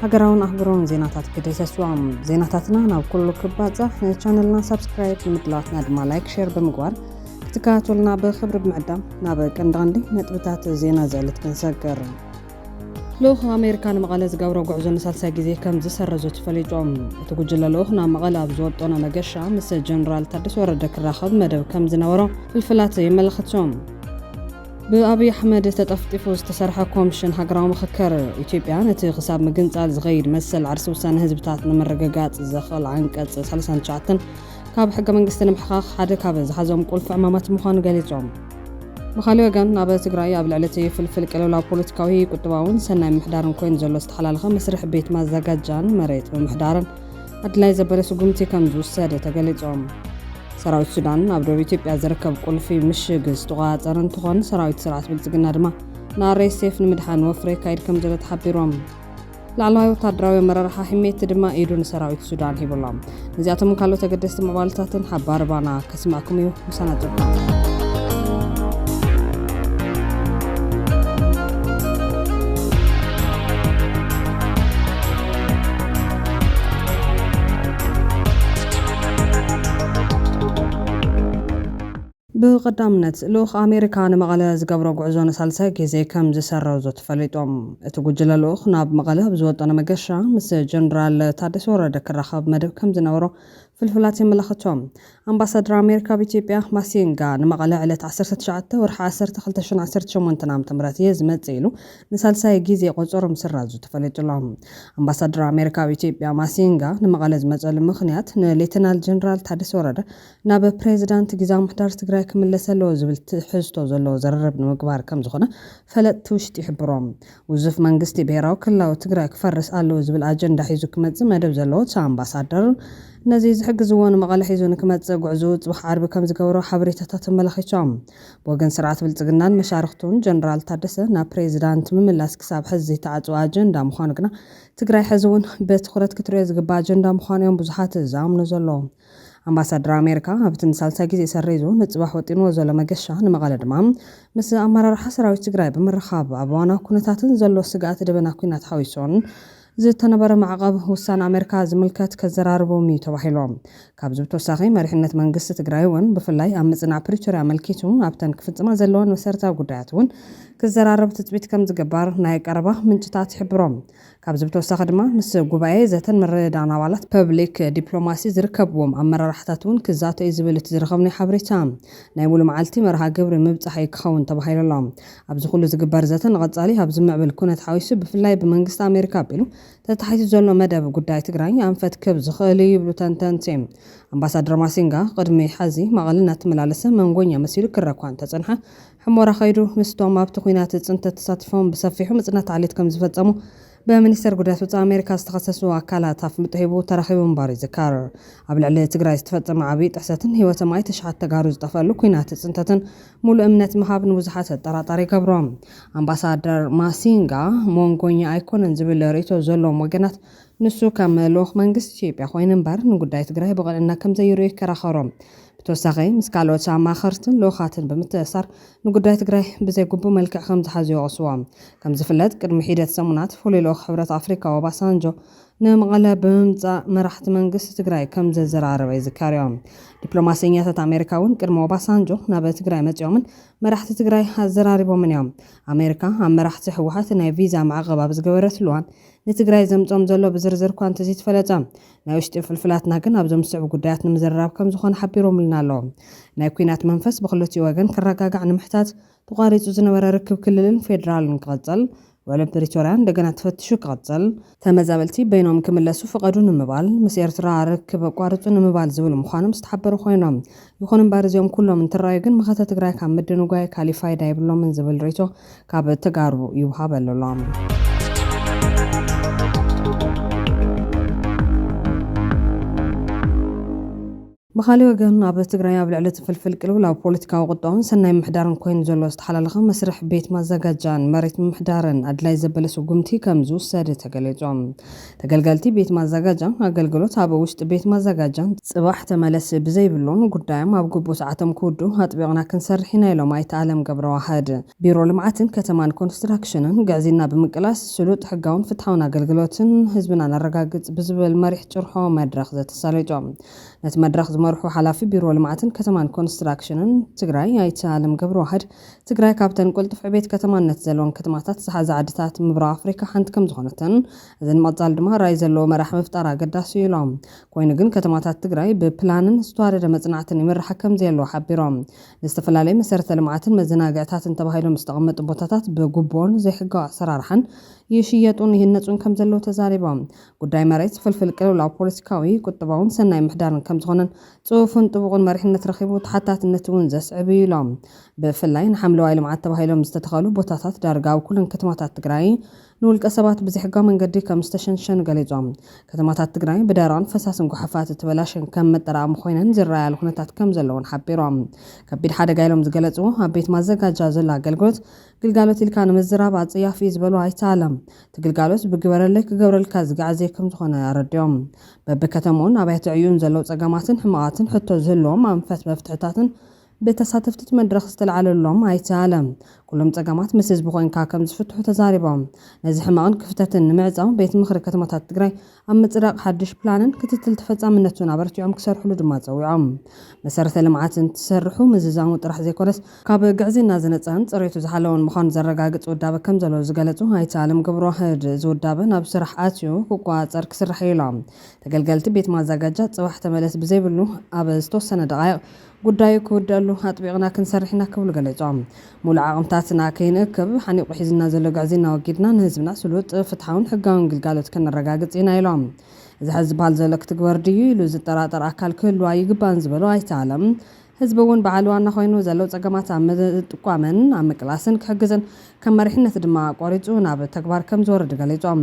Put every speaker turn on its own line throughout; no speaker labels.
ሃገራውን ኣህጉራውን ዜናታት ክድህሰስዋም ዜናታትና ናብ ኩሉ ክባጻሕ ቻነልና ሳብስክራይብ ንምድላዋትና ድማ ላይክ ሸር ብምግባር ክትከታተሉና ብክብሪ ብምዕዳም ናብ ቀንዲ ቀንዲ ነጥብታት ዜና ዘዕልት ክንሰገር ልኡኽ ኣሜሪካ ንመቐለ ዝገብሮ ጉዕዞ ንሳልሳይ ግዜ ከም ዝሰረዞ ተፈሊጦም እቲ ጉጅለ ልኡኽ ናብ መቐለ ኣብ ዝወጠኖ መገሻ ምስ ጀነራል ታደሰ ወረደ ክራኸብ መደብ ከም ዝነበሮ ፍልፍላት የመላኽቶም ብኣብይ ኣሕመድ ተጠፍጢፉ ዝተሰርሐ ኮምሽን ሃገራዊ ምኽክር፣ ኢትዮጵያ ነቲ ክሳብ ምግንፃል ዝኸይድ መሰል ዓርሰ ውሳነ ህዝብታት ንምርግጋፅ ዘኽእል ዓንቀፅ ሰላሳን ትሽዓተን ካብ ሕገ መንግስቲ ንምሕኻኽ ሓደ ካብ ዝሓዞም ቁልፊ ዕማማት ምዃኑ ገሊፆም። ብኻሊእ ወገን ኣብ ትግራይ ኣብ ልዕሊ እቲ ፍልፍል ቅልውላው ፖለቲካዊ፣ ቁጠባውን ሰናይ ምምሕዳርን ኮይኑ ዘሎ ዝተሓላለኸ መስርሕ ቤት ማዘጋጃን መሬት ምምሕዳርን፣ ኣድላይ ዘበለ ስጉምቲ ከምዝውሰደ ተገሊፆም። ሰራዊት ሱዳን ኣብ ደቡብ ኢትዮጵያ ዝርከብ ቁልፊ ምሽግ ዝተቆፃፀረ እንትኾን ሰራዊት ስርዓት ብልፅግና ድማ ንኣርኤስኤፍ ንምድሓን ወፍሪ የካይድ ከምዘሎ ተሓቢሮም። ላዕለዋይ ወታደራዊ ኣመራርሓ ሒሜቲ ድማ ኢዱ ንሰራዊት ሱዳን ሂቡሎም። ነዚኣቶምን ካልኦት ኣገደስቲ ምዕባለታትን ሓባር ባና ስማኩም እዩ ምሳና ጸብቁ። ብቐዳምነት ልኡኽ ኣሜሪካ ንመቐለ ዝገብሮ ጉዕዞ ንሳልሳይ ግዜ ከም ዝሰረዞ ተፈሊጦም እቲ ጉጅለ ልኡኽ ናብ መቐለ ኣብ ዝወጠነ መገሻ ምስ ጀነራል ታደሰ ወረደ ክራኸብ መደብ ከም ዝነበሮ ፍልፍላት የመላኽቱ። ኣምባሳድር ኣሜሪካ ኣብ ኢትዮጵያ ማሲንጋ ንመቐለ ዕለት ዓሰርተ ትሽዓተ ወርሒ ዓሰርተ ክልተ ሽሕን ዓሰርተ ሸሞንተን ዓመተ ምህረት እየ ዝመጽእ ኢሉ ንሳልሳይ ግዜ ቆጸሮ ምስራዙ ተፈሊጡ'ሎ። ኣምባሳድር ኣሜሪካ ኣብ ኢትዮጵያ ማሲንጋ ንመቐለ ዝመጸሉ ምኽንያት ንሌተናል ጀነራል ታደሰ ወረደ ናብ ፕሬዚዳንት ግዝያዊ ምሕዳር ትግራይ ክምለስ ኣለዎ ዝብል ትሕዝቶ ዘለዎ ዝርርብ ንምግባር ከምዝኾነ ፈለጥቲ ውሽጢ ይሕብሩ። ውዙፍ መንግስቲ ብሄራዊ ክልላዊ ትግራይ ክፈርስ ኣለዎ ዝብል ኣጀንዳ ሒዙ ክመፅእ መደብ ዘለዎ እቲ ኣምባሳደር፣ ነዙይ ዝሕግዝዎ ንመቐለ ሒዙ ንክመፅእ ጉዕዝኡ ፅባሕ ዓርቢ ከምዝገበሮ ሓበሬታታት ኣመላኺቶም። ብወገን ስርዓት ብልፅግናን መሻርኽቱን ጀነራል ታደሰ ናብ ፕሬዚዳንት ምምላስ ክሳብ ሐዚ ዘይተዓፅወ ኣጀንዳ ምዃኑ ግና ትግራይ ሐዚ እውን ብትኹረት ክትሪኦ ዝግባእ ኣጀንዳ ምዃኑ እዮም ብዙሓት ዝኣምኑ ዘለዉ። ኣምባሳደር ኣሜሪካ ኣብቲ ንሳልሳይ ግዜ ሰሪዙ ንፅባሕ ወጢንዎ ዘሎ መገሻ ንመቐለ ድማ ምስ ኣመራርሓ ሰራዊት ትግራይ ብምርኻብ ኣብ እዋናዊ ኩነታትን ዘሎ ስግኣት ደበና ኲናት ሓዊሱን ዝተነበረ ማዕቐብ ውሳነ ኣሜሪካ ዝምልከት ከዘራርቦም ኢዩ ተባሂሉ። ካብዚ ብተወሳኺ መሪሕነት መንግስቲ ትግራይ እውን ብፍላይ ኣብ ምፅናዕ ፕሪቶርያ ኣመልኪቱ ኣብተን ክፍፅማ ዘለወን መሰረታዊ ጉዳያት እውን ክዘራረብ ትፅቢት ከምዝግበር ናይ ቀረባ ምንጭታት ይሕብሩ። ካብዚ ብተወሳኺ ድማ ምስ ጉባኤ ዘተን ምርድዳእን ኣባላት ፐብሊክ ዲፕሎማሲ ዝርከብዎም ኣመራርሓታት እውን ክዛተ እዩ ዝብል እቲ ዝረኸብናዮ ሓበሬታ። ናይ ሙሉ መዓልቲ መርሃ ግብሪ ምብፃሕ እዩ ክኸውን ተባሂሉ ኣሎ። ኣብዚ ኩሉ ዝግበር ዘተ ንቐፃሊ ኣብ ዝምዕብል ኩነት ሓዊሱ ብፍላይ ብመንግስቲ ኣሜሪካ ኣቢሉ ተታሒዙ ዘሎ መደብ ጉዳይ ትግራይ ኣንፈት ክህብ ዝኽእል እዩ ይብሉ ተንተንቲ። ኣምባሳደር ማሲንጋ ቅድሚ ሐዚ መቐለ እናተመላለሰ መንጎኛ መሲሉ ክረእ እኳ እንተፀንሐ ሑመራ ከይዱ ምስቶም ኣብቲ ኲናት ፅንተት ተሳቲፎም ብሰፊሑ ምፅናት ዓሌት ከምዝፈፀሙ ብሚኒስቴር ጉዳያት ወፃኢ ኣሜሪካ ዝተኸሰሱ ኣካላት ኣፍልጦ ሂቡ ተረኺቡ ምንባሩ ይዝከር። ኣብ ልዕሊ ትግራይ ዝተፈፀመ ዓብዪ ጥሕሰትን ህይወቶም ኣይተ ሽሓት ተጋሩ ዝጠፈእሉ ኲናት ፅንተትን ሙሉእ እምነት ምሃብ ንብዙሓት ኣጠራጣሪ ይገብሮ። ኣምባሳደር ማሲንጋ ሞንጎኛ ኣይኮነን ዝብል ርእይቶ ዘለዎም ወገናት ንሱ ከም ልኡኽ መንግስቲ ኢትዮጵያ ኮይኑ ምበር ንጉዳይ ትግራይ ብቕንዕና ከምዘይርእዮ ይከራኸሩ። ብተወሳኺ ምስ ካልኦት ኣማኸርትን ልኡኻትን ብምትእስሳር ንጉዳይ ትግራይ ብዘይግቡእ መልክዕ ከምዝሓዙ ይወቕስዎ። ከምዝፍለጥ ቅድሚ ሒደት ሰሙናት ፍሉይ ልኡኽ ሕብረት ኣፍሪካ ኦባሳንጆ ንመቐለ ብምምፃእ መራሕቲ መንግስቲ ትግራይ ከምዘዘራረበ ይዝከርዮ። ዲፕሎማሰኛታት ኣሜሪካ እውን ቅድሚ ኦባሳንጆ ናብ ትግራይ መፂኦምን መራሕቲ ትግራይ ኣዘራሪቦምን እዮም። ኣሜሪካ ኣብ መራሕቲ ህወሓት ናይ ቪዛ ማዕቐብ ኣብ ዝገበረትሉ እዋን ንትግራይ ዘምፅኦም ዘሎ ብዝርዝር እኳ እንተዘይተፈለጠ ናይ ውሽጢ ፍልፍላትና ግን ኣብዞም ዝስዕቡ ጉዳያት ንምዝርራብ ከምዝኾነ ሓቢሮምልና ኣለው። ናይ ኲናት መንፈስ ብኽልቲኡ ወገን ክረጋጋዕ ንምሕታት፣ ተቋሪፁ ዝነበረ ርክብ ክልልን ፌዴራልን ክቕፅል፣ ውዕሊ ፕሪቶሪያ እንደገና ተፈቲሹ ክቕፅል፣ ተመዛበልቲ በይኖም ክምለሱ ፍቐዱ ንምባል፣ ምስ ኤርትራ ርክብ ኣቋርፁ ንምባል ዝብሉ ምዃኖም ዝተሓበሩ ኾይኖም፣ ይኹን እምበር እዚኦም ኩሎም እንትራዩ ግን መኸተ ትግራይ ካብ ምድንጓይ ካሊእ ፋይዳ የብሎምን ዝብል ሪኢቶ ካብ ተጋሩ ይውሃበሉ ኣሎ። ብኻሊእ ወገን ኣብ ትግራይ ኣብ ልዕሊ እቲ ፍልፍል ቅልውላው ፖለቲካዊ ቁጠባን ሰናይ ምሕዳርን ኮይኑ ዘሎ ዝተሓላለኸ መስርሕ ቤት ማዘጋጃን መሬት ምምሕዳርን ኣድላይ ዘበለ ስጉምቲ ከምዝውሰድ ተገሊፁ። ተገልገልቲ ቤት ማዘጋጃ ኣገልግሎት ኣብ ውሽጢ ቤት ማዘጋጃ ፅባሕ ተመለሲ ብዘይብሎም ጉዳዮም ኣብ ግቡእ ሰዓቶም ክውድኡ ኣጥቢቕና ክንሰርሕ ኢና ኢሎም ኣይተ ኣለም ገብረዋህድ። ቢሮ ልምዓትን ከተማን ኮንስትራክሽንን ግዕዝይና ብምቅላስ ስሉጥ፣ ሕጋውን ፍትሓውን ኣገልግሎት ንህዝብና ነረጋግፅ ብዝብል መሪሕ ጭርሖ መድረኽ ዘተሳለጦም ነቲ መድረኽ ዝመርሑ ሓላፊ ቢሮ ልምዓትን ከተማን ኮንስትራክሽንን ትግራይ ኣይተ ኣለም ገብረዋህድ ትግራይ ካብተን ቅልጡፍ ዕቤት ከተማነት ዘለወን ከተማታት ዝሓዛ ዓድታት ምብራቕ ኣፍሪካ ሓንቲ ከምዝኾነትን እዚ ንቐፃሊ ድማ ራኢ ዘለዎ መራሒ ምፍጣር ኣገዳሲ እዩ ኢሎም። ኮይኑ ግን ከተማታት ትግራይ ብፕላንን ዝተዋደደ መፅናዕትን ይምርሓ ከምዘየለዋ ሓቢሮም። ንዝተፈላለዩ መሰረተ ልምዓትን መዘናግዕታትን ተባሂሎም ዝተቐመጡ ቦታታት ብጉቦን ዘይሕጋዊ ኣሰራርሓን ይሽየጡን ይህነፁን ከምዘለዉ ተዛሪቦም። ጉዳይ መሬት ፍልፍል ቅልውላው ፖለቲካዊ፣ ቁጠባውን ሰናይ ምሕዳርን ከምዝኾነን ፅፉፍን ጥቡቕን መሪሕነት ረኺቡ ተሓታትነት እውን ዘስዕብ እዩ ኢሎም። ብፍላይ ንሓምለዋይ ልምዓት ተባሂሎም ዝተተኸሉ ቦታታት ዳርጋ ኣብ ኩለን ከተማታት ትግራይ ንውልቀ ሰባት ብዘይሕጋዊ መንገዲ ከም ዝተሸንሸኑ ገሊፆም። ከተማታት ትግራይ ብደረቕን ፈሳስን ጉሓፋት እተበላሸን ከም መጠራቐሚ ኮይነን ዝረኣያሉ ኩነታት ከም ዘሎ እውን ሓቢሮም። ከቢድ ሓደጋ ኢሎም ዝገለፅዎ ኣብ ቤት ማዘጋጃ ዘሎ ኣገልግሎት ግልጋሎት ኢልካ ንምዝራብ ኣፀያፊ እዩ ዝበሉ ኣይተ ኣለም፣ እቲ ግልጋሎት ብግበረለይ ክገብረልካ ዝግዓዝ ዘይከም ዝኾነ ኣረዲኦም። በቢ ከተምኡን ኣብያተ ዕዩኡን ዘለው ፀገማትን ሕመቓትን ሕቶ ዝህልዎም ኣንፈት መፍትሕታትን ብተሳተፍቲ እቲ መድረኽ ዝተልዓለሎም ኣይተ ኣለም፣ ኩሎም ፀገማት ምስ ህዝቢ ኮይንካ ከምዝፍትሑ ተዛሪቦም። ነዚ ሕመቕን ክፍተትን ንምዕፃው ቤት ምኽሪ ከተማታት ትግራይ ኣብ ምፅዳቕ ሓዱሽ ፕላንን ክትትል ተፈፃምነቱን ኣበርቲዖም ክሰርሕሉ ድማ ፀዊዖም። መሰረተ ልምዓት እንትስርሑ ምዝዛሙ ጥራሕ ዘይኮነስ ካብ ግዕዝይና ዝነፀን ፅሬቱ ዝሓለወን ምዃኑ ዘረጋግፅ ውዳበ ከምዘሎ ዝገለፁ ኣይተ ኣለም ገብረዋህድ እዚ ውዳበ ናብ ስራሕ ኣትዩ ክቆፃፀር ክስራሕ እዩ ኢሎም። ተገልገልቲ ቤት ማዛጋጃ ፅባሕ ተመለስ ብዘይብሉ ኣብ ዝተወሰነ ደቓይቕ ጉዳዩ ክውደኣሉ ኣጥቢቕና ክንሰርሕ ኢና ክብሉ ገሊጾም። ሙሉእ ዓቕምታትና ከይንእክብ ሓኒቑ ሒዙና ዘሎ ግዕዝይና ኣወጊድና ንህዝብና ስሉጥ፣ ፍትሓውን ሕጋውን ግልጋሎት ከነረጋግጽ ኢና ኢሎም። እዚ ሐዚ ዝብሃል ዘሎ ክትግበር ድዩ ኢሉ ዝጠራጠር ኣካል ክህሉ ኣይግባእን ዝበሉ ኣይተ ኣለም፣ ህዝቢ እውን በዓል ዋና ኮይኑ ዘለው ፀገማት ኣብ ምጥቋምን ኣብ ምቅላስን ክሕግዝን ከም መሪሕነት ድማ ቆሪፁ ናብ ተግባር ከምዝወርድ ገሊፆም።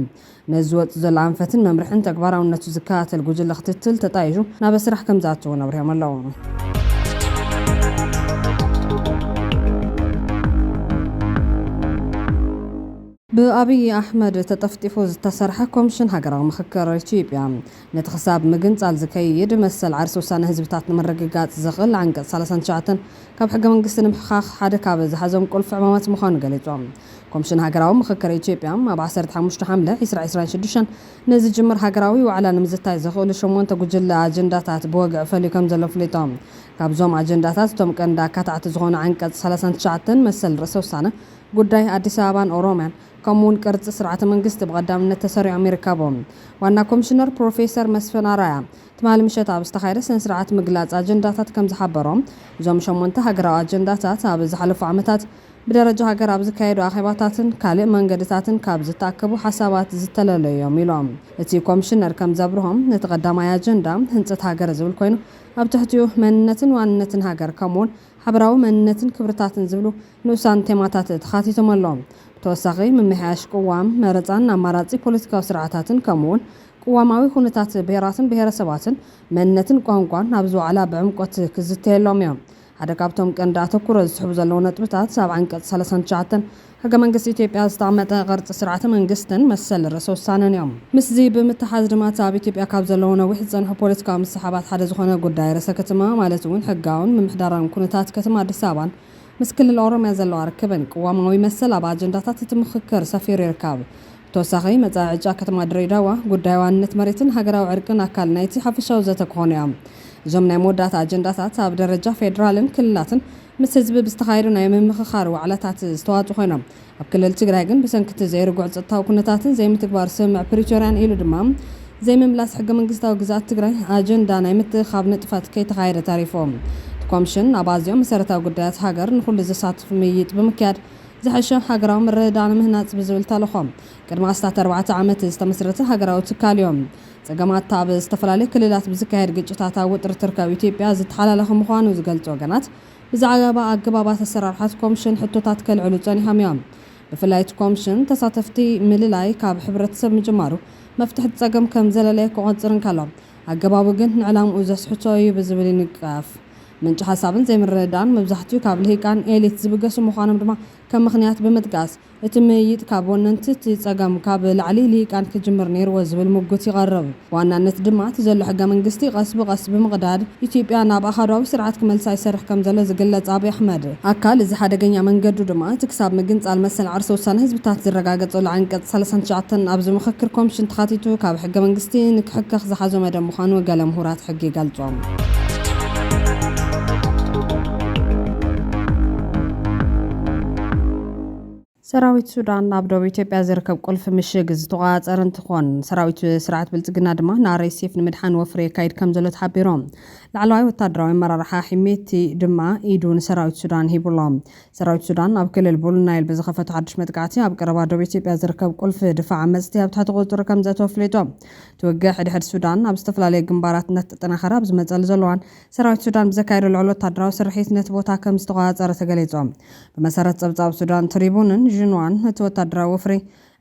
ነዚ ዝወጽእ ዘሎ ኣንፈትን መምርሕን ተግባራውነቱ ዝከታተል ጉጅለ ክትትል ተጣይሹ ናበ ስራሕ ከምዝኣቱ እውን ኣብሪሆም ኣለው። ብኣብዪ ኣሕመድ ተጠፍጢፉ ዝተሰርሐ ኮምሽን ሃገራዊ ምኽክር ኢትዮጵያ ነቲ ክሳብ ምግንፃል ዝከይድ መሰል ዓርሲ ውሳነ ህዝብታት ንምርግጋፅ ዘኽእል ዓንቀፅ ሰላሳን ትሽዓተን ካብ ሕገ መንግስቲ ንምሕኻኽ ሓደ ካብ ዝሓዞም ቁልፊ ዕማማት ምዃኑ ገሊፆም። ኮምሽን ሃገራዊ ምኽክር ኢትዮጵያ ኣብ ዓሰርተ ሓሙሽተ ሓምለ ዕስራ ዕስራን ሽዱሽተን ንዝጅምር ሃገራዊ ዋዕላ ንምዝታይ ዘኽእሉ ሸሞንተ ጉጅለ ኣጀንዳታት ብወግዒ ፈልዩ ከምዘሎ ኣፍሊጡ። ካብዞም ኣጀንዳታት እቶም ቀንዲ ኣካታዕቲ ዝኾኑ ዓንቀፅ ሰላሳን ትሽዓተን መሰል ርእሰ ውሳነ፣ ጉዳይ ኣዲስ ኣበባን ኦሮሚያን ከምኡ እውን ቅርፂ ስርዓተ መንግስቲ ብቐዳምነት ተሰሪዖም ይርከቡ። ዋና ኮምሽነር ፕሮፌሰር መስፍን ኣርኣያ ትማሊ ምሸት ኣብ ዝተኻየደ ስነ ስርዓት ምግላፅ ኣጀንዳታት ከምዝሓበሮ እዞም ሸሞንተ ሃገራዊ ኣጀንዳታት ኣብ ዝሓለፉ ዓመታት ብደረጃ ሃገር ኣብ ዝካየዱ ኣኼባታትን ካልእ መንገድታትን ካብ ዝተኣከቡ ሓሳባት ዝተለለዩ እዮም ኢሎም። እቲ ኮምሽነር ከም ዘብርሆ፣ እቲ ቀዳማይ ኣጀንዳ ህንጸት ሃገር ዝብል ኮይኑ፣ ኣብ ትሕቲኡ መንነትን ዋንነትን ሃገር ከምኡ'ውን ሓበራዊ መንነትን ክብርታትን ዝብሉ ንኡሳን ቴማታት ተኻቲቶም ኣሎዉ። ብተወሳኺ ምምሕያሽ ቅዋም፣ መረጻን ኣማራጺ ፖለቲካዊ ስርዓታትን ከምኡ'ውን ቅዋማዊ ኩነታት ብሄራትን ብሄረሰባትን፣ መንነትን ቋንቋን ኣብዚ ዋዕላ ብዕምቆት ክዝተየሎም እዮም። ሓደ ካብቶም ቀንዲ ኣተኩሮ ዝስሕቡ ዘለዉ ነጥብታት ኣብ ዓንቀፅ ሰለሳን ትሽዓተን ሕገ መንግስቲ ኢትዮጵያ ዝተቐመጠ ቕርፂ ስርዓተ መንግስትን መሰል ርእሰ ውሳነን እዮም። ምስዚ ብምትሓዝ ድማ እቲ ኣብ ኢትዮጵያ ካብ ዘለዉ ነዊሕ ዝፀንሐ ፖለቲካዊ ምስሕሓባት ሓደ ዝኾነ ጉዳይ ርእሰ ክትማ ማለት እውን ሕጋውን ምምሕዳራውን ኩነታት ከተማ ኣዲስ ኣበባን ምስ ክልል ኦሮሚያ ዘለዋ ርክብን ቅዋማዊ መሰል ኣብ ኣጀንዳታት እቲ ምኽክር ሰፊሩ ይርከብ። ተወሳኺ መጻኢ ዕጫ ከተማ ድሬዳዋ፣ ጉዳይ ዋንነት መሬትን ሃገራዊ ዕርቅን ኣካል ናይ'ቲ ሓፈሻዊ ዘተ ክኾኑ'ዮም። እዞም ናይ መወዳእታ ኣጀንዳታት ኣብ ደረጃ ፌደራልን ክልላትን ምስ ህዝቢ ብዝተኻየዱ ናይ ምምኽኻር ዋዕላታት ዝተዋጡ ኮይኖም፣ ኣብ ክልል ትግራይ ግን ብሰንኪ'ቲ ዘይርጉዕ ጸጥታዊ ኩነታትን ዘይምትግባር ስምምዕ ፕሪቶርያን ኢሉ ድማ ዘይምምላስ ሕገመንግስታዊ ግዝኣት ትግራይ ኣጀንዳ ናይ ምትእኽኻብ ንጥፈት ከይተኻየደ ተሪፉ። እቲ ኮምሽን ኣብ ኣዚዮም መሰረታዊ ጉዳያት ሃገር ንኹሉ ዘሳትፍ ምይይጥ ብምክያድ ዝሐሸ ሃገራዊ ምርድዳእ ንምህናፅ ብዝብል ተልእኾ ቅድሚ ኣስታት ኣርባዕተ ዓመት ዝተመስረተ ሃገራዊ ትካል እዩ። ፀገማት እታ ኣብ ዝተፈላለዩ ክልላት ብዝካየድ ግጭታት ኣብ ውጥር እትርከብ ኢትዮጵያ ዝተሓላለኸ ምዃኑ ዝገልፁ ወገናት ብዛዕባ ኣገባባት ኣሰራርሓ እቲ ኮምሽን ሕቶታት ከልዕሉ ፀኒሖም እዮም። ብፍላይ እቲ ኮምሽን ተሳተፍቲ ምልላይ ካብ ሕብረተሰብ ምጅማሩ መፍትሒ እቲ ፀገም ከምዘለለየ ክቖፅር እንከሎ ኣገባቡ ግን ንዕላምኡ ዘስሕቶ እዩ ብዝብል ይንቀፍ። ምንጪ ሓሳብን ዘይምርድዳእን መብዛሕቲኡ ካብ ልሂቃን፣ ኤሊት፣ ዝብገሱ ምዃኖም ድማ ከም ምኽንያት ብምጥቃስ፣ እቲ ምይይጥ ካብ ወነንቲ እቲ ጸገም፣ ካብ ላዕሊ፣ ልሂቃን፣ ክጅምር ነይርዎ ዝብል ሙጉት ይቐርብ። ብዋናነት ድማ እቲ ዘሎ ሕገ መንግስቲ ቐስ ብቐስ ብምቕዳድ ኢትዮጵያ ናብ ኣሃዱኣዊ ስርዓት ክመልሳ ይሰርሕ ከም ዘሎ ዝግለጽ ኣብይ ኣሕመድ፣ ኣካል እዚ ሓደገኛ መንገዱ ድማ እቲ ክሳብ ምግንጻል መሰል ዓርሰ ውሳነ ህዝብታት ዝረጋገጸሉ ዓንቀጽ ሰላሳን ትሽዓተን ኣብዚ ምኽክር ኮምሽን ተኻቲቱ ካብ ሕገ መንግስቲ ንክሕከኽ ዝሓዞ መደብ ምዃኑ ገለ ምሁራት ሕጊ ይገልጹ። ሰራዊት ሱዳን ኣብ ደቡብ ኢትዮጵያ ዝርከብ ቁልፊ ምሽግ ዝተቖፃፀረ እንትኾን ሰራዊት ስርዓት ብልፅግና ድማ ንኣርኤስኤፍ ንምድሓን ወፍሪ የካይድ ከም ዘሎ ተሓቢሩ። ላዕለዋይ ወታደራዊ ኣመራርሓ ሒሜቲ ድማ ኢዱ ንሰራዊት ሱዳን ሂቡ ኣሎ። ሰራዊት ሱዳን ኣብ ክልል ቡሉ ናይል ብዝኸፈቶ ሓዱሽ መጥቃዕቲ ኣብ ቀረባ ደቡብ ኢትዮጵያ ዝርከብ ቁልፊ ድፋዕ ዓመፅቲ ኣብ ትሕቲ ቁፅፅሩ ከም ዘእተወ ኣፍሊጡ። እቲ ውግእ ሕድሕድ ሱዳን ኣብ ዝተፈላለዩ ግንባራት እናተጠናኸረ ኣብ ዝመፀሉ ዘሎ እዋን ሰራዊት ሱዳን ብዘካየዶ ልዑል ወታደራዊ ስርሒት ነቲ ቦታ ከምዝተቖፃፀረ ተገሊፁ። ብመሰረት ፀብፃብ ሱዳን ትሪቡንን ዥንዋን እቲ ወታደራዊ ወፍሪ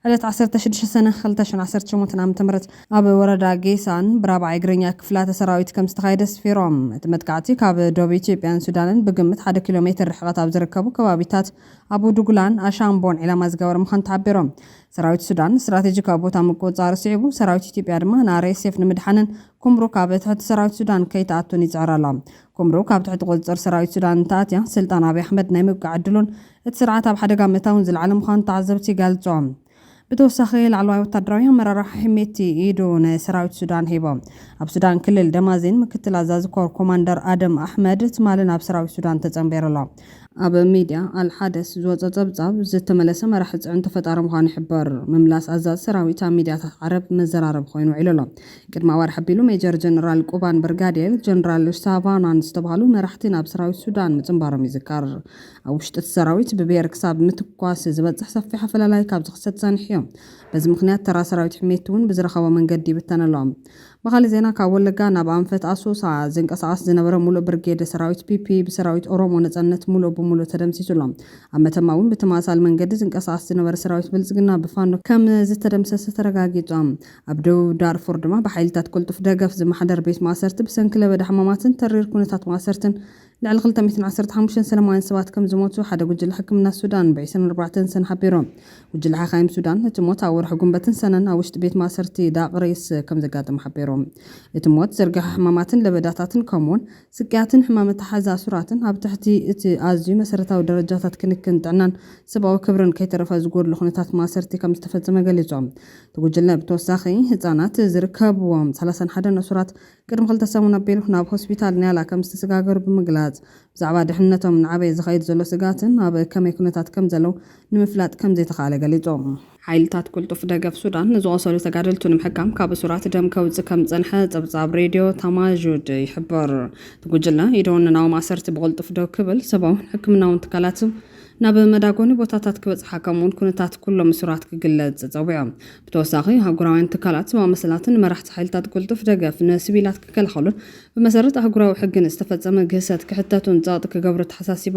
ዕለት ዓሰርተ ሽዱሽተ ሰነ ክልተ ሽሕን ዓሰርተ ሸሞንተን ዓመተ ምህረት ኣብ ወረዳ ጌሳን ብራብዓይ እግረኛ ክፍላተ ሰራዊት ከምዝተኻየደ ስፊሮም። እቲ መጥቃዕቲ ካብ ዶብ ኢትዮጵያን ሱዳንን ብግምት ሓደ ኪሎ ሜትር ርሕቐት ኣብ ዝርከቡ ከባቢታት ኣቡ ዱጉላን ኣሻምቦን ዒላማ ዝገበረ ምዃኑ ተሓቢሩ። ሰራዊት ሱዳን ስትራቴጂካዊ ቦታ ምቁፅፃር ስዒቡ ሰራዊት ኢትዮጵያ ድማ ንኣርኤስኤፍ ንምድሓንን ኩምሩክ ኣብ ትሕቲ ሰራዊት ሱዳን ከይትኣቱን ይፅዕር ኣሎ። ኩምሩክ ኣብ ትሕቲ ቁፅፅር ሰራዊት ሱዳን እንተኣትያ ስልጣን ኣብይ ኣሕመድ ናይ ምብቃዕ ዕድሉን እቲ ስርዓት ኣብ ሓደጋ ምእታውን ዝለዓለ ምዃኑ ተዓዘብቲ ይገልፁ። ብተወሳኺ ላዕለዋይ ወታደራዊ ኣመራርሓ ሒሜቲ ኢዱ ንሰራዊት ሱዳን ሂቡ። ኣብ ሱዳን ክልል ደማዚን ምክትል ኣዛዚ ኮር ኮማንደር ኣደም ኣሕመድ ትማሊ ናብ ሰራዊት ሱዳን ተፀንቢሩ ኣሎ። ኣብ ሚድያ ኣል ሓደስ ዝወጸ ጸብጻብ፣ ዝተመለሰ መራሒ ጽዕንቶ ፈጣሪ ምዃኑ ይሕበር። ምምላስ ኣዛዚ ሰራዊት ኣብ ሚድያታት ዓረብ መዘራረቢ ኮይኑ ውዒሉ ኣሎ። ቅድሚ ኣዋርሕ ኣቢሉ ሜጀር ጀነራል ቁባን ብርጋዴር ጀነራል ሳቫናን ዝተባህሉ መራሕቲ ናብ ሰራዊት ሱዳን ምጽንባሮም ይዝከር። ኣብ ውሽጢ እቲ ሰራዊት ብብሄር ክሳብ ምትኳስ ዝበጽሕ ሰፊሕ ኣፈላላይ ካብ ዝኽሰት ጸኒሑዮ። በዚ ምኽንያት ተራ ሰራዊት ሕሜትቲ'ውን ብዝረኸቦ መንገዲ ይብተን ኣሎ። ብኻልእ ዜና ካብ ወለጋ ናብ ኣንፈት ኣሶሳ ዝንቀሳቐስ ዝነበረ ሙሉእ ብርጌድ ሰራዊት ፒፒ ብሰራዊት ኦሮሞ ነፃነት ሙሉእ ብሙሉእ ተደምሲሱ ኣሎ። ኣብ መተማ እውን ብተመሳሳሊ መንገዲ ዝንቀሳቐስ ዝነበረ ሰራዊት ብልፅግና ብፋኖ ከም ዝተደምሰሰ ተረጋጊፁ። ኣብ ደቡብ ዳርፉር ድማ ብሓይሊታት ቅልጡፍ ደገፍ ዝመሓደር ቤት ማእሰርቲ ብሰንኪ ለበዳ ሕማማትን ተሪር ኩነታት ማእሰርትን ልዕሊ ክልተ ሚእትን ዓሰርተ ሓሙሽተን ሰለማውያን ሰባት ከም ዝሞቱ ሓደ ጉጅለ ሕክምና ሱዳን ብዒስራን ኣርባዕተን ሰነ ሓቢሩ። ጉጅለ ሓካይም ሱዳን እቲ ሞት ኣብ ወርሒ ጉንበትን ሰነን ኣብ ውሽጢ ቤት ማእሰርቲ ዳቅሪስ ከም ዘጋጠመ ሓቢሩ። እቲ ሞት ዝርግሐ ሕማማትን ለበዳታትን ከምኡ'ውን ስቅያትን ሕማም መተሓሓዚ ኣሱራትን ኣብ ትሕቲ እቲ ኣዝዩ መሰረታዊ ደረጃታት ክንክን ጥዕናን ሰብኣዊ ክብርን ከይተረፈ ዝጎድሎ ኩነታት ማእሰርቲ ከም ዝተፈጸመ ገሊጹ። እቲ ጉጅለ ብተወሳኺ ህጻናት ዝርከብዎም ሰላሳን ሓደን እሱራት ቅድሚ ክልተ ሰሙን ኣቢሉ ናብ ሆስፒታል ኒያላ ከም ዝተሰጋገሩ ብምግላጽ፣ ብዛዕባ ድሕንነቶም እናዓበየ ዝኸይድ ዘሎ ስግኣትን ኣብ ከመይ ኩነታት ከም ዘለዉ ንምፍላጥ ከም ዘይተኻእለ ገሊጾም። ሓይልታት ቅልጡፍ ደገፍ ሱዳን ንዝቖሰሉ ተጋደልቱ ንምሕካም ካብ እሱራት ደም ከውጽእ ከም ዝጸንሐ ጸብጻብ ሬድዮ ታማዡድ ይሕብር። እቲ ጉጅለ ኢዱ ንናዎም ኣሰርቲ ብቕልጡፍ ደው ክብል ሰብኣውን ሕክምናውን ትካላት ናብ መዳጎኒ ቦታታት ክበጽሓ ከምኡውን ኩነታት ኩሎም እሱራት ክግለጽ ጸዊዑ። ብተወሳኺ፣ ኣህጉራውያን ትካላት ሰብኣዊ መሰላትን መራሕቲ ሓይልታት ቅልጡፍ ደገፍ ንስቪላት ክከላኸሉን ብመሰረት ኣህጉራዊ ሕጊ ንዝተፈጸመ ግህሰት ክሕተቱን ጸቕጢ ክገብሩ ተሓሳሲቡ።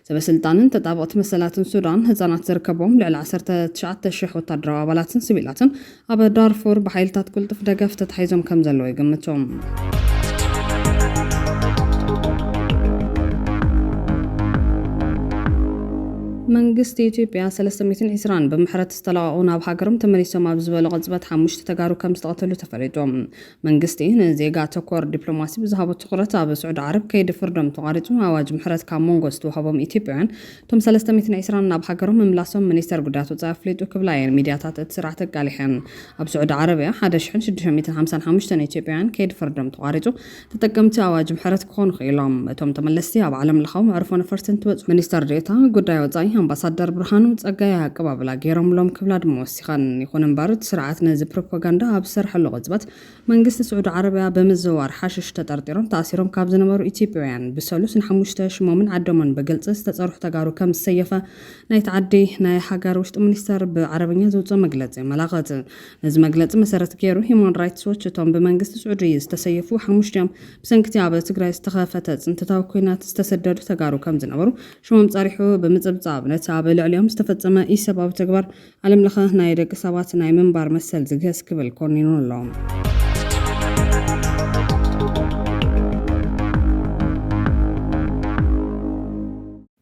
ሰበስልጣንን ተጣበቕቲ መሰላትን ሱዳን፣ ህጻናት ዝርከብዎም ልዕሊ ዓሰርተ ትሽዓተ ሽሕ ወታደራዊ ኣባላትን ስቪላትን ኣብ ዳርፉር ብሓይልታት ቅልጡፍ ደገፍ ተታሒዞም ከምዘለዉ ይግምቱ። መንግስቲ ኢትዮጵያ ሰለስተ ሚእትን ዒስራን ብምሕረት ዝተለቐቑ ናብ ሃገሮም ተመሊሶም ኣብ ዝበሎ ቅጽበት ሓሙሽተ ተጋሩ ከም ዝተቐተሉ ተፈሊጡ። መንግስቲ ንዜጋ ተኮር ዲፕሎማሲ ብዝሃቦ ትኹረት ኣብ ስዑዲ ዓረብ ከይዲ ፍርዶም ተቋሪጹ ኣዋጅ ምሕረት ካብ መንጎ ዝተዋህቦም ኢትዮጵያውያን እቶም ሰለስተ ሚእትን ዒስራን ናብ ሃገሮም ምምላሶም ሚኒስተር ጉዳያት ወጻኢ ኣፍሊጡ ክብላ እየን ሚድያታት እቲ ስርዓት ኣቃሊሐን። ኣብ ስዑዲ ዓረብያ ሓደ ሽሕን ሽዱሽተ ሚእትን ሓምሳን ሓሙሽተን ኢትዮጵያውያን ከይዲ ፍርዶም ተቋሪጹ ተጠቀምቲ ኣዋጅ ምሕረት ክኾኑ ክኢሎም። እቶም ተመለስቲ ኣብ ዓለም ለኻዊ መዕርፎ ነፈርቲ እንትበጽሑ ሚኒስተር ዴኤታ ጉዳይ ወጻኢ ኣምባሳደር ብርሃኑ ጸጋይ ኣቀባብላ ገይሮምሎም ክብላ ድማ ወሲኸን። ይኹን እምበር እቲ ስርዓት ነዚ ፕሮፓጋንዳ ኣብ ዝሰርሐሉ ቅጽበት፣ መንግስቲ ስዑዲ ዓረብያ በምዝውዋር ሓሽሽ ተጠርጢሮም ተኣሲሮም ካብ ዝነበሩ ኢትዮጵያውያን ብሰሉስ ንሓሙሽተ ሽሞምን ዓደሞን ብግልፂ ዝተፀርሑ ተጋሩ ከም ዝሰየፈ ናይቲ ዓዲ ናይ ሃገር ውሽጢ ሚኒስተር ብዓረብኛ ዝውፅእ መግለፂ የመላኽት። ነዚ መግለፂ መሰረት ገይሩ ሂዩማን ራይትስ ዎች እቶም ብመንግስቲ ስዑዲ ዝተሰየፉ ሓሙሽቲኦም ብሰንኪቲ ኣብ ትግራይ ዝተኸፈተ ፅንተታዊ ኲናት ዝተሰደዱ ተጋሩ ከም ዝነበሩ ሽሞም ፀሪሑ ብምፅብፃብ ነቲ ኣብ ልዕሊኦም ዝተፈፀመ ኢሰብኣዊ ተግባር ዓለም ለኸ ናይ ደቂ ሰባት ናይ ምንባር መሰል ዝግህስ ክብል ኮኒኑ ኣሎ።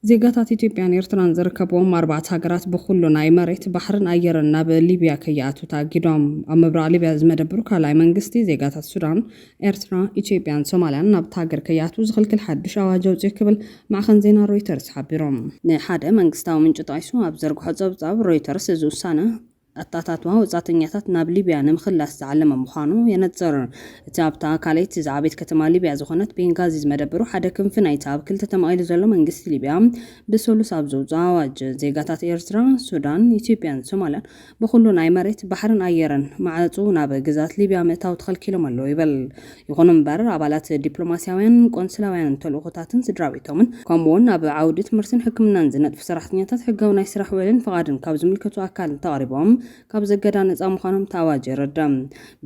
ዜጋታት ኢትዮጵያን ኤርትራን ዝርከብዎም ኣርባዕተ ሃገራት ብኹሉ ናይ መሬት ባሕርን ኣየርን ናብ ሊብያ ከይኣትው ተኣጊዶም። ኣብ ምብራቕ ሊብያ ዝመደብሩ ካልኣይ መንግስቲ ዜጋታት ሱዳን ኤርትራ፣ ኢትዮጵያን ሶማልያን ናብታ ሃገር ከይኣትዉ ዝኽልክል ሓድሽ ኣዋጅ ኣውጺኡ ክብል ማዕኸን ዜና ሮይተርስ ሓቢሩ። ንሓደ መንግስታዊ ምንጪ ጠቒሱ ኣብ ዝዘርግሖ ጸብጻብ፣ ሮይተርስ እዚ ውሳነ፣ ኣተኣታትዋ ወጻእተኛታት ናብ ሊብያ ንምኽላስ ዝዓለመ ምዃኑ የነጽር። እቲ ኣብታ ካልኣይቲ ዝዓበየት ከተማ ሊብያ ዝኾነት ቤንጋዚ ዝመደበሩ ሓደ ክንፊ ናይቲ ኣብ ክልተ ተመቒሉ ዘሎ መንግስቲ ሊብያ፣ ብሰሉስ ኣብ ዘውጽኦ ኣዋጅ፣ ዜጋታት ኤርትራ፣ ሱዳን፣ ኢትዮጵያን ሶማልያን ብኹሉ ናይ መሬት፣ ባሕርን ኣየርን ማዕጹ ናብ ግዝኣት ሊብያ ምእታው ተኸልኪሎም ኣለዉ ይብል። ይኹን እምበር ኣባላት ዲፕሎማስያውያንን ቆንስላውያንን ተልእኾታትን ስድራቤቶምን ከምኡ'ውን ኣብ ዓውዲ ትምህርትን ሕክምናን ዝነጥፉ ሰራሕተኛታት ሕጋዊ ናይ ስራሕ ውዕልን ፍቓድን ካብ ዝምልከቶ ኣካል እንተቐሪቦም ካብዚ እገዳ ነጻ ምዃኖም እቲ ኣዋጅ የረድእ።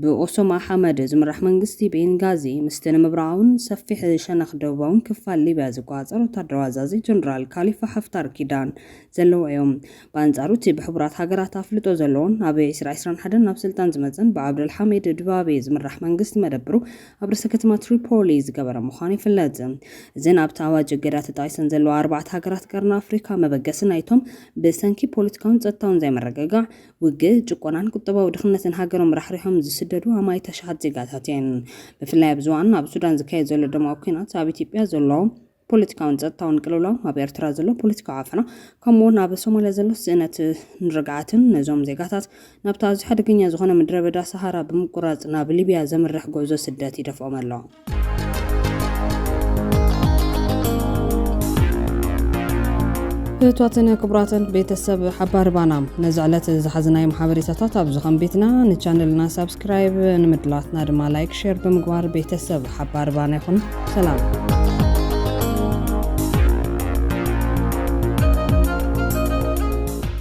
ብኦሶማ ሓመድ ዝምራሕ መንግስቲ ቤንጋዚ ምስቲ ንምብራቓውን ሰፊሕ ሸነኽ ደቡባውን ክፋል ሊብያ ዝቆጻጸር ወተሃደራዊ ኣዛዚ ጀነራል ካሊፋ ሓፍታር ኪዳን ዘለዎ'ዩ። ብኣንጻሩ እቲ ብሕቡራት ሃገራት ኣፍልጦ ዘለዎን ኣብ ዒስራ ዒስራን ሓደን ናብ ስልጣን ዝመጽእን ብዓብደልሓሚድ ድባቤ ዝምራሕ መንግስቲ መደብሩ ኣብ ርእሰ ከተማ ትሪፖሊ ዝገበረ ምዃኑ ይፍለጥ። እዘን ኣብቲ ኣዋጅ እገዳ ተጠቒሰን ዘለዋ ኣርባዕተ ሃገራት ቀርኒ ኣፍሪካ መበገሲ ናይቶም ብሰንኪ ፖለቲካውን ጸጥታውን ዘይምርግጋዕ፣ ውግእ፣ ጭቆናን ቁጠባዊ ድኽነትን ሃገሮም ራሕሪሖም ዝስደዱ ኣማኢት ኣሽሓት ዜጋታት እየን። ብፍላይ ኣብዚ እዋን ኣብ ሱዳን ዝካየድ ዘሎ ደማዊ ኲናት፣ ኣብ ኢትዮጵያ ዘሎ። ፖለቲካውን ጸጥታውን ቅልውላው፣ ኣብ ኤርትራ ዘሎ ፖለቲካዊ ዓፈና፣ ከምኡ'ውን ኣብ ሶማልያ ዘሎ ስእነትን ርግኣትን፣ ነዞም ዜጋታት ናብቲ ኣዝዩ ሓደገኛ ዝኾነ ምድረበዳ ሰሃራ ብምቁራጽ ናብ ሊብያ ዘምርሕ ጉዕዞ ስደት ይደፍኦም ኣሎ። ፍትዋትን ክቡራትን ቤተሰብ ሓባር ባና ነዚ ዕለት ዝሓዝናዮም ሓበሬታታት ኣብዚ ከም ቤትና ንቻነልና ሳብስክራይብ ንምድላትና ድማ ላይክ ሼር ብምግባር ቤተሰብ ሓባር ባና ይኹን ሰላም።